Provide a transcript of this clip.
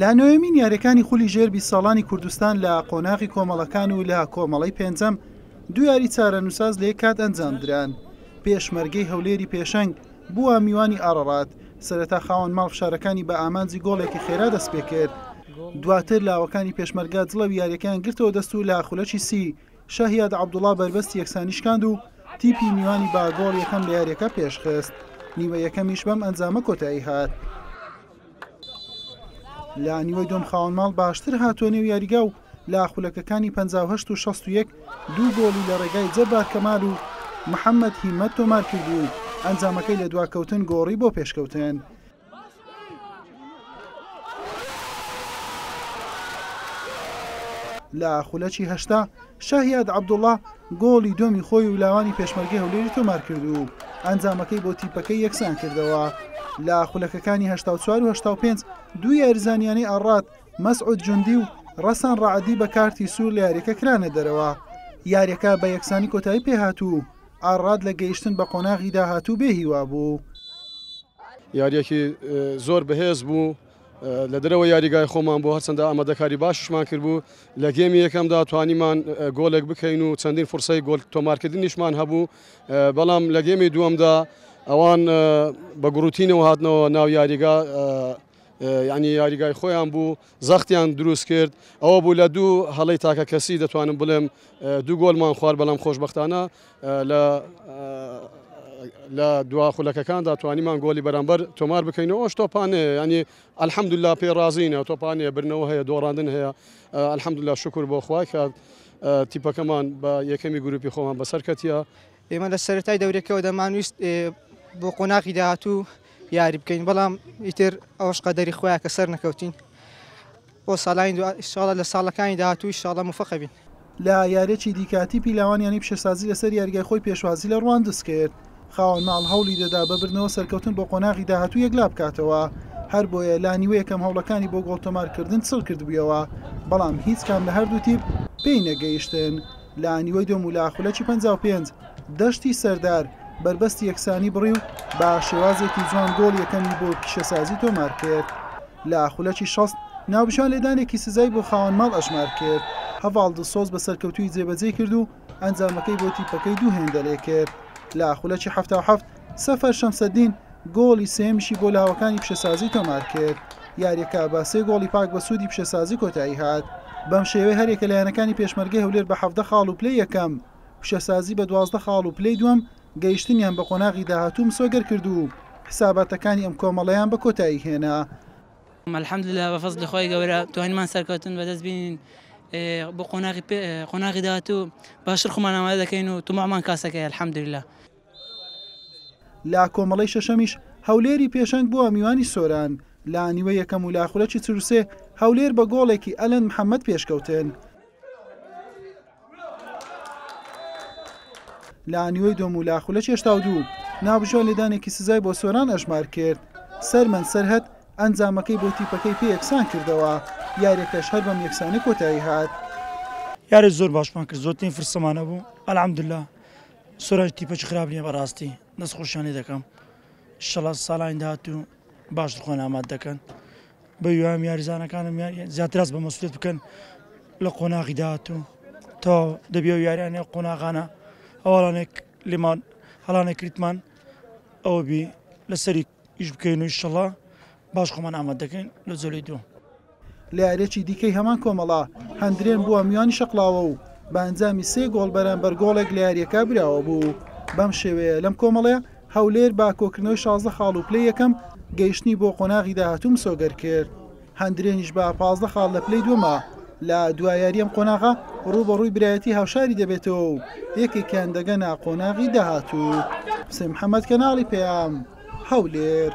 لە نۆیەمین یاریەکانی خولی ژێر بیست ساڵانی کوردستان لە قۆناغی کۆمەڵەکان و لە کۆمەڵەی پێنجەم دو یاری چارەنووساز لە یەک کات ئەنجامدران پێشمەرگەی هەولێری پێشەنگ بووە میوانی ئاڕەڕات سەرەتا خاوەن ماڵ فشارەکانی بە ئامانجی گۆڵێکی خێرا دەستپێکرد دواتر لاوەکانی پێشمەرگە جڵەوی یاریەکەیان گرتەوە دەست و لە خولەکی سی شەهیاد عەبدوڵا بەربەستی یەکسانی شکاند و تیپی میوانی با گۆڵ یەکەم لە یاریەکە پێشخست، نیوە یەکەمیش بەم ئەنجامە کۆتایی هات. لە نیوەی دوم خاوەن ماڵ باشتر هاتووە نێو یاریگا و لە خولەکەکانی 58 و 61 دوو گۆڵی لە ڕێگای جەبار کەمال و محەمەد هیمەت تۆمار کردوو و ئەنجامەکەی لە دواکەوتن گۆڕی بۆ پێشکەوتن. لە خولەکی هەشتا شاهیاد عەبدوڵا گۆڵی دووەمی خۆی و لاوانی پێشمەرگەی هەولێری تۆمار کرد و ئەنجامەکەی بۆ تیپەکەی یەکسان کردەوە لە خولەکەکانی هشتا و چوار و هشتا و پێنج دوو یاریزانیانەی ئاڕات مەسعود جوندی و ڕەسان ڕعدی بە کارتی سوور لە یاریەکە کرانە دەرەوە یاریەکە بە یەکسانی کۆتایی پێهات و ئاراد لە گەیشتن بە قۆناغی داهاتوو بێ هیوا بوو. یارییەکی زۆر بەهێز بوو، لە دەرەوەی یاریگای خۆمان بوو، هەرچەندە ئامادەکاری باشیشمان کردبوو، لە گێمی یەکەمدا توانیمان گۆڵێک بکەین و چەندین فرسەی گۆل تۆمارکردنیشمان هەبوو، بەڵام لە گێمی دووەمدا ئەوان بە گوڕوتینەوە هاتنەوە ناو یاریگا، یانی یاریگای خۆیان بوو، زەختیان دروست کرد، ئەوە بوو لە دوو هەڵەی تاکە کەسی دەتوانم بڵێم دوو گۆڵمان خوارد، بەڵام خۆشبەختانە لە دوا خولەکەکاندا توانیمان گۆڵی بەرامبەر تۆمار بکەین و ئەوەش تۆپانەیە، یانی الحمدللە پێی ڕازین، تۆپانەیە برنەوە هەیە، دۆڕاندن هەیە، الحمدللە شوکور بۆ خوا کە تیپەکەمان بە یەکەمی گروپی خۆمان بەسەر کەتیە. ئێمە لە سەرەتای دەورەکەەوە دەمانویست بۆ قۆناغی داهاتوو یاری بکەین بەڵام ئیتر ئەوش قەدەری خۆیان کە سەر نەکەوتین بۆ ساڵانی دو ئیشاڵە لە ساڵەکانی داهاتوو ئیشاڵە مفەقەبین. لە یاریەکی دیکاتی پیلاوان یانی پیشەسازی لەسەر یاریگای خۆی پێشوازی لە رواندز کرد خاوەن ماڵ هەوڵی دەدا بە بردنەوە سەرکەوتن بۆ قۆناغی داهاتوو یەکلابکاتەوە هەربۆیە لانیوە یەکەم هەوڵەکانی بۆ گۆڵ تۆمارکردن چڕکردبویەوە بەڵام هیچ کام لە هەردوو تیپ پێی نەگەیشتن. لە نیوەی دوم و لە خولەکی پەنجا و پێنج دەشتی سەردار بەربەستی یەکسانی بڕی و بە شێوازێکی جوان گۆڵی یەکەمی بۆ پیشەسازی تۆمار کرد. لە خولەکی شەست ناوبژیان لێدانێکی سزای بۆ خاوەن ماڵ ئەژمار کرد، هەڤاڵ دڵسۆز بە سەرکەوتوویی جێبەجێی کرد و ئەنجامەکەی بۆ تیپەکەی دوو هێندەرێ کرد. لە خولەکی حەفتا و حەفت سەفەر شەمسەدین گۆڵی سێیەمیشی بۆ لاوەکانی پیشەسازی تۆمارکرد، یارییەکە بە سێ گۆڵی پاک بە سوودی پیشەسازی کۆتاییهات، بەم شێوەیە هەریەکە لە یانەکانی پێشمەرگەی هەولێر بە حەڤدە خاڵ و پلەی یەکەم، پیشەسازی بە دوازدە خاڵ و پلەی دووەم گەیشتنیان بە قۆناغی داهاتوو مسۆگەرکرد و حساباتەکانی ئەم کۆمەڵەیان بە کۆتاییهێنا. الحمدللە بە فەزلی خوای گەورە توانیمان سەرکەوتن بەدەست بینین بۆ قۆناغی داهاتوو باشتر خۆمان ئامادە دەکەین و تەماحمان کاسەکەیە الحمدللە. لە کۆمەڵەی شەشەمیش هەولێری پێشەنگ بووە میوانی سۆران لە نیوە یەکەم و لە خولەکی چروسێ هەولێر بە گۆڵێکی ئەلەند محەممەد پێشکەوتن. لە نیوەی دۆم و لە خولە چێشتا و دوو ناوبژۆ لێدانێکی سزای بۆ سۆران ئەژمار کرد سەرمەند سەرهەت ئەنجامەکەی بۆ تیپەکەی پێ یەکسان کردەوە یاریەکەش هەر بەم یەکسانی کۆتایی هات یاری زۆر باشمان کرد زۆرترین فرسەمانە بوو الحمدلله سورەج تیپەکی خراپ نیە بەراستی دەست خۆشیان لێ دەکەم انشاللە سالانی داهاتوو باشتر خۆیان ئامادە دەکەن بە هیوام یاریزانەکانم زیاتر هەست بە مەسولیت بکەن لە قۆناغی داهاتوو تا دەبێ و یاریانە قۆناغانە هەواڵانێک لێمان هەڵانە کریتمان ئەوە بی لەسەری ئیش بکەین و ئیشەڵا باش خۆمان ئامادە دەکەین لۆ جولەی دووەم. لەیاریەکی دیکەی هەمان کۆمەڵە، هەندرێن بووە میوانی شەقڵاوە و بە ئەنجامی سێ گۆڵ بەرامبەر گۆڵێک لە یارییەکە براوەبوو، بەم شێوەیە لەم کۆمەڵە هەولێر بە کۆکردنەوەی شازدە خاڵ و پلەی یەکەم، گەیشتنی بۆ قۆناغی داهاتوو مسۆگەر کرد. هەندرێنیش بە پازدە خاڵ لە پلەی دووەمە، لە دوا یاریی ئەم قۆناغە رووبەڕووی برایەتیی هاوشاری دەبێتەوە و یەکێکیان دەگەنە قۆناغی داهاتوو. حوسێن محەممەد، کەناڵی پەیام، هەولێر.